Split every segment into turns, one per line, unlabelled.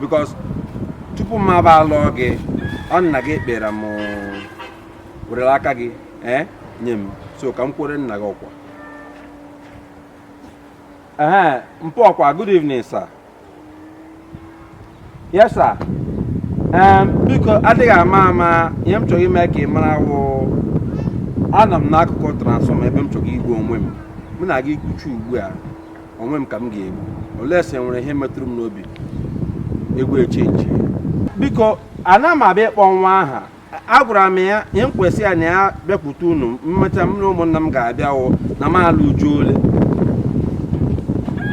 because tupu m aba alụọ gị ọ nna gị kpọrọ m werela aka gị ee nye m so ka m kwuru nna gị okwu ee mpa ọkwa good evening sir yes sir biko adịghị ama ama ihe m chọrọ ime ka ị mara wụ anọ m n'akụkụ transformer ebe m chọrọ igbu onwe m mụ na gị kwuchaa ugbu a onwe m ka m ga-egbu unless e nwere ihe metụrụ m n'obi egwu echenji biko ana m abịa ịkpọ nwa ahụ agwara m ya ihe m kwesị ya na ya bịakwute unu emecha m na ụmụnna m ga-abịa wụ na m alụ uju ole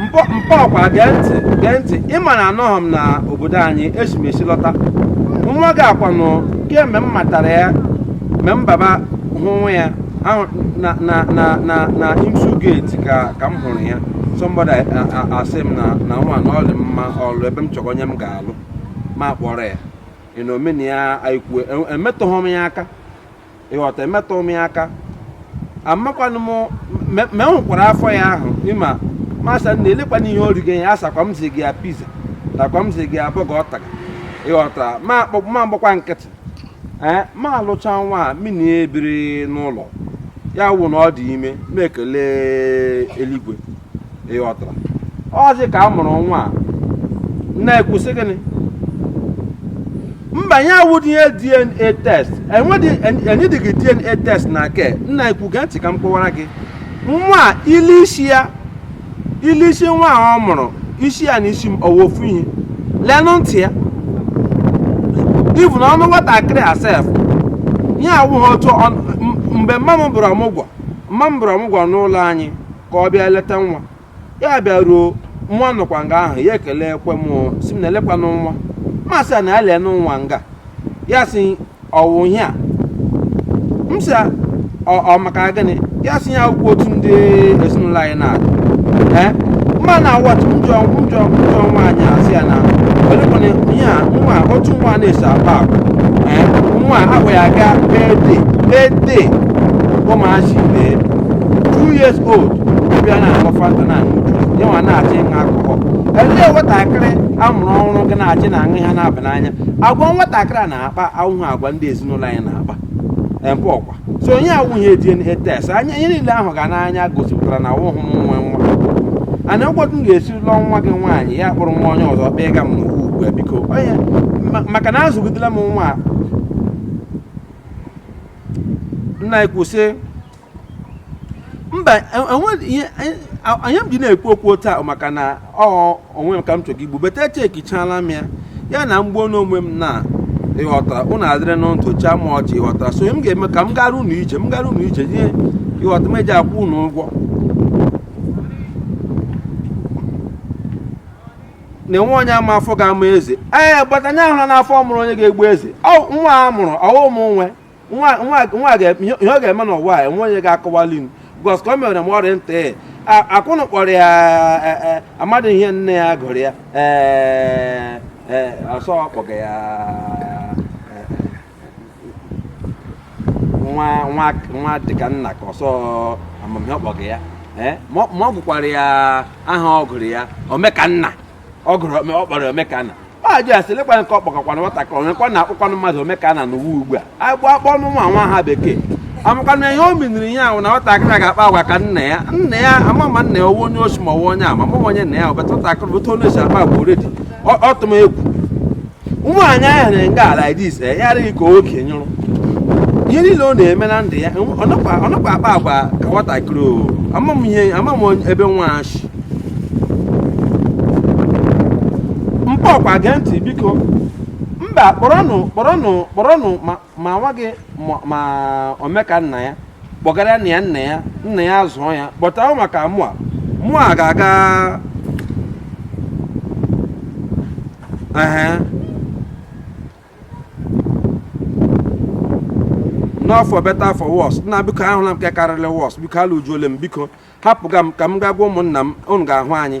mpa mpa ọkwa gee ntị gee ntị ịma na anọghị m na obodo anyị esi m esi lọta nwa gị a kwanụ kemgbe m matara ya mgbe m baba hụwa ya na na na na na IMSU gate ka ka m hụrụ ya somebody a- a- a- asị m na na nwa na ọ dị mma ọlụ ebe m chọrọ onye m ga-alụ m akpọrọ ya ị na omena ya anyị kwue E- emetụghị m ya aka ịghọta emetụghị m ya aka amakwanụ m me- me hụkwara afọ ya ahụ ịma m asị na elekwana ihe o rigo ya asakwa m zi gị ya pizza takwa m zi gị ya burger ọ taga ịghọta m akpọ- m agbakwa nkịtị ee m alụcha nwa a mụ na ya ebiri n'ụlọ ya wụ na ọ dị ime m ekele eluigwe ịghọtara ọzi ka a mụrụ nwa a na-ekwu sị gịnị mba ya awụdị ihe dna test enwedịghị dna test na nke m na-ekwu gee ntị ka m kọwara gị nwa a i lee isi ya i lee isi nwa a ọ mụrụ isi ya na isi m ọ wụ ofu ihe lenụ ntị ya even ọnụ nwatakịrị a sef ihe awụghị otu mgbe mma m bịara ọmụgwọ mma m bịara ọmụgwọ n'ụlọ anyị ka ọ bịa leta nwa ya bịaruo nwa nọkwa nga ahụ ya ekelekwa m sị m nna elekwanụ nwa m asị ya na ya lenụ nwa nga ya sị ọ wụ ihe a m sị ya, ọ ọ maka gịnị ya sị ihe a awụkwa otu ndị ezinụlọ anyị na-adị ee mma na awat njọ njọ njọ nwaanyị a sị ya na olekwana ihe a nwa otu nwa na-esi akpa agwa ee nwa ahụ ya aga birthday birthday ụmụazị ibe two years old ibe ya na-aṅụ fanta na-aṅụ juice ya nwa na-achọ ịṅụ alcohol elee nwatakịrị a mụrụ ọhụrụ ga na-achọ ịṅụ ihe na-aba n'anya agwa nwatakịrị a na-akpa awụhụ agwa ndị ezinụlọ anyị na-akpa mpa ọkwa so ihe a awụghị dna test ihe niile a hụga n'anya gosipụtara na awụhụ m nwe nwa and ọkwa otu m ga-esi lụọ nwa gị nwaanyị ya kpọrọ nwa onye ọzọ kpee ga m n'ugwu ugbu a biko onye ma- maka na azụgidela m nwa a. nna anyị kwụsị mba e- enwe- ihe- e- a- ihe m ji na-ekwu okwu taa maka na ọ onwe m ka m chọrọ igbu but echekichala m ya na m gbuo onwe m na ịghọtara ụnụ adịrị na ntụ chịa m ọchị ịghọtara so m ga-eme ka m gara ụnụ ije m gara ụnụ ije ihe ịghọta m eji akwụ ụnụ ụgwọ na enwe onye ma afọ ga-amụ eze ee but anya ahụla n'afọ mụrụ onye ga-egbu eze ọ nwa a mụrụ ọ wụ m nwe nwa ihe ọ ga-eme n'ụwa a enwe onye ga-akọwali m because ka o mere m ọrịa ntị akwụnụ kpọrọ ya e, e, amadị ihe nne ya gụrụ ya ee e, ọ sọ ọ kpọga ya nwa dịka nna ka ọ sọ amamihe ọ kpọga ya ma ọ gụkwara ya aha ọ gụrụ ya omekanna ọ gụrụ ọ kpọrọ omekanna m ajụ ya sị lekwana nke ọ kpọgakwanụ nwatakịrị onyekwa na-akpọkwanụ mmadụ omekanna n'ụwa ugbu a agbụ akpọnụ nwa nwa aha bekee amakwanụ m ihe o miniri ya ahụ na nwatakịrị a ga-akpa agwa ka nna ya nna ya ama m ma nna ya ọ wụ onye oshi ma ọ wụ onye ama m onye nna ya wụ but nwatakịrị otu ọ na-esi akpa agwa already ọ tụ m egwu nwaanyị ahụ na nga ala dis eh, ya adịghị ka oke nyụrụ ihe niile ọ na-eme na ndụ ya ọ nakwa akpa agwa ka nwatakịrị o ama m ihe ama m ebe nwa shi mpa ọkwa gee ntị biko mba kpọrọnụ kpọrọnụ kpọrọnụ ma ma nwa gị ma omeka nna ya kpọgara nna ya nna ya nna ya zụọ ya but ahụ maka mụa mụa ga-aga not for better for worse nna biko ahụla m nke karịrị worse biko alụjuole m biko hapụga m ka m gaa gwa ụmụnna m unu ga-ahụ anyị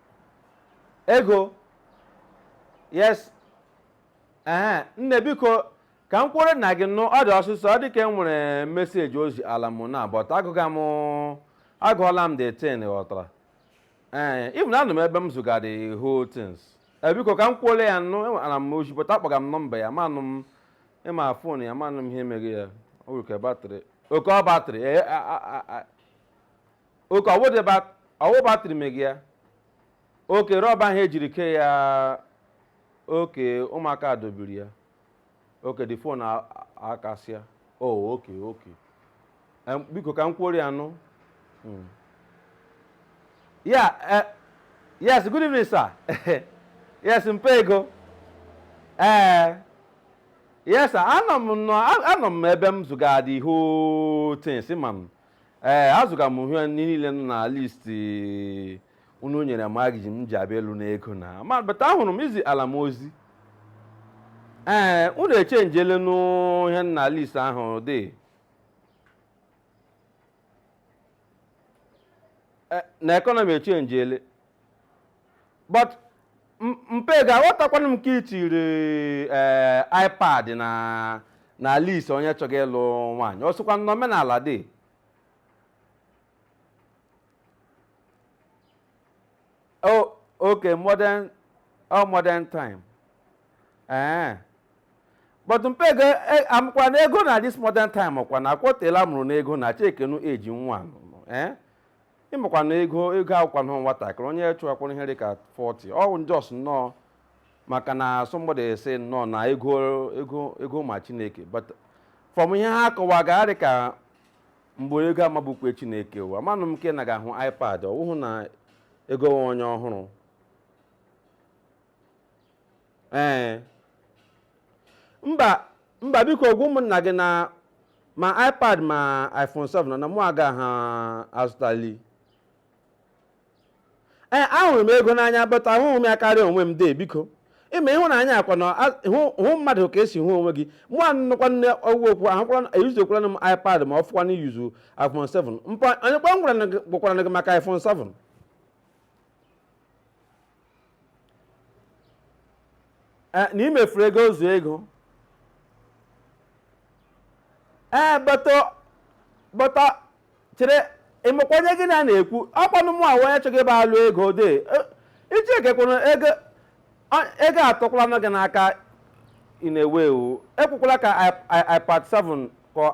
ego yes ee nne biko ka m kwuori nna gị nụ ọ dị ọsịsọ ọ dị ka e nwere message o ziala m na but agụga m agụọla m the thing ghọtara ee even anọ m ebe m zụga the whole things ee biko ka m kwuori ya nụ enwe- ana m ozi but akpọga m nọmba ya amanụ m ma phone ya amanụ m ihe mega ya oke batrị oke ọ batrị ee a- a- a- a- oke ọ wụ batrị mega ya oke rọba ahụ ejiri kee ya oke ụmụaka dọbiri ya oke the phone akasịa o oke oke Em, biko ka m kwuori ya nụ Mm. ya eh, yes good evening sir yes mpa ego ee yes sir anọ m nọ anọ m ebe m zụga the whole things ma m ee eh, azụga m ihe niile nọ na list eh, unu nyere m aga-eji m ji abịa alụ n'ego na ma but ahụrụ m e ziela m ozi ee eh, unu echenjele n'ihe nọ na list ahụ dị na economy echenjele but mpa Ego aghọtakwana m ka i tiri eh, ipad na na list onye chọga ịlụ nwaanyị o sokwa na omenala dị oh okay modern oh modern time ee eh. but mpa Ego eh, amụkwanụ Ego na this modern time ọkwa na akwọtela mụrụ n'ego na chekenu eji nwa ee eh. ịmakwa na ego ego awụkwanụ nwatakịrị onye chụwakwara ihe dị ka 40 ọ bụ just nnọọ maka na somebody asị nnọọ na ego ego ego ma chineke but from ihe ha kọwaga adị ka mgbe ego amabukwe chineke ụwa manụ m nke na ga-ahụ ipad ọ wụhụ na ego nwe onye ọ hụrụ ee mba mba biko gwa ụmụnna gị na ma ipad ma iphone 7 nọ na mụ agaha azụtali ee ahụrụ m ego n'anya but ahụghị m ya karịa onwe m dee biko ịma ịhụnanya ọkwa na a- hụ hụ mmadụ ka i si hụ onwe gị mụ anụkwa nne ọgwụ okwu ahụkwala eyuzukwala m ipad ma ọ fọkwa na iyuzu iphone 7 mpa onye kwa m gwara na gị- gwakwaranụ gị maka iphone 7 na imefuru ego ozu ego ee but but chere ịmakwa onye gị na na-ekwu ọkwanụ mụ awụ onye chọgị ịbịa alụ ego de iji ekekwana ego ego atọkwala gị n'aka ị na-ewe iwe ekwekwala ka ipad 7 ka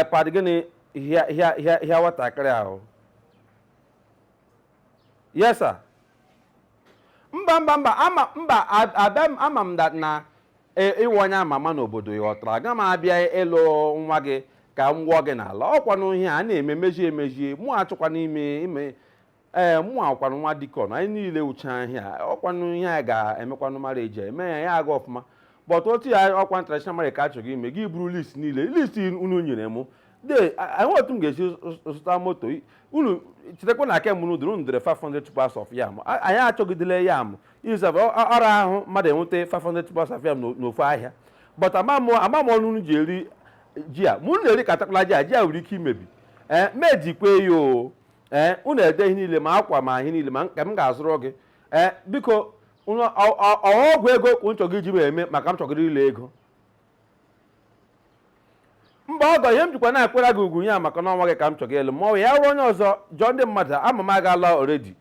ipad gịnị hịa nwatakịrị ahụ yes sir mba mba mba ama mba ab- abịa m ama m that na e- ịwụ onye ama ama n'obodo ị ghọtara aga m abịa ịlụ nwa gị ka m gwọọ gị n'ala ọkwanụ ihe a na-eme mejie emejie mụ achọkwa n'ime ime ee mụ awụkwanụ nwa deacon anyị niile wụcha ihe a ọkwanụ ihe a ga-emekwanụ mara eji eme ya ya aga ọfụma but otu ya ọkwa traditional marriage ka achọgị ime gị buru list niile list unu nyere mụ de enwe otu m ga-esi zụta moto unu chetakwa na kemgbe unu dụrụ unu dere 500 tubers of yam A- anyị achọgidela yam izab ọ ra ahụ mmadụ inweta 500 tubers of yam n'o- n'ofu ahịa but ama m ama m ọnụ unu ji eri ji a ma unu na-erikatakwala ji a ji a nwere ike imebi ee mejikwe ya o ee unu ede ihe niile ma akwa ma ihe niile ma nke m ga-azụrụ gị ee biko unu ọ- ọ- ọ ọgwụ ego ka unu chọgị iji m eme maka m chọgịrị ịlụ ego mba ọgọ ihe m jikwa na-akwara gị ugwu ya maka na ọ nwa gị ka m chọga ịlụ ma ọ ya ruo onye ọzọ jụọ ndị mmadụ ama m agaala already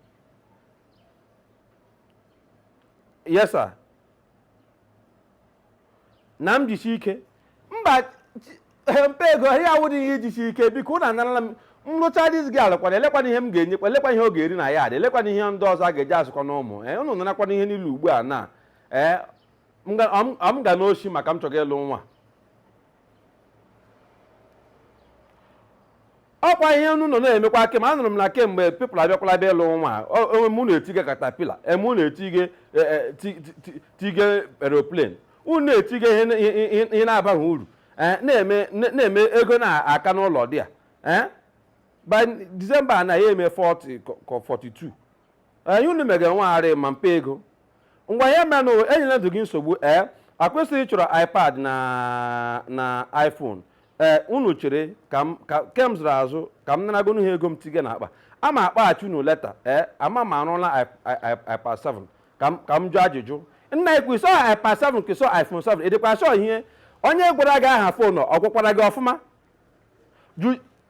yes sir na m jisi ike mba mpa Ego ihe a awụdị ihe ijisi ike biko unu anarala m nrụcha diz gị alụkwana elekwana ihe m ga-enyekwa elekwa ihe ọ ga-eri na ya adị elekwana ihe ndị ọzọ a ga-eji azụkọ na ụmụ ee unu narakwana ihe niile ugbu a na ee m ga- ọ m- ọ m ga n'oshi maka m chọga ịlụ nwa ọkwa ihe unu nọ na-emekwa kem anụrụ m na kemgbe people abịakwala bịa ịlụ nwa o- o- unu na-etige caterpillar unu na-etige e, e, ti- ti- ti- tige aeroplane unu na-etige ihe na- ihe- ihe ihe na-abaghị uru Eh, na-eme na- na-eme ego na-aka n'ụlọ dị a Eh? by December na ya eme 40 ka- ka 42 years unu mega nwa arị ma mpa Ego ngwa ihe menụ enyela ndụ gị nsogbu ee ọkwa ị sị ị chọrọ ipad na na iphone ee unu chere ka m ka kem zụrụ azụ ka m naragonu ha ego m tige na akpa ama m akpọghachi unu later ee ama m arụla i- i- i- ipad 7 ka m ka m jụọ ajụjụ nna i kwu ị sị ọ ipad 7 ka ị sị ọ iphone 7 ị dịkwa sure ihe onye gwara gị aha phone ọ gwakwara gị ọfụma Ju-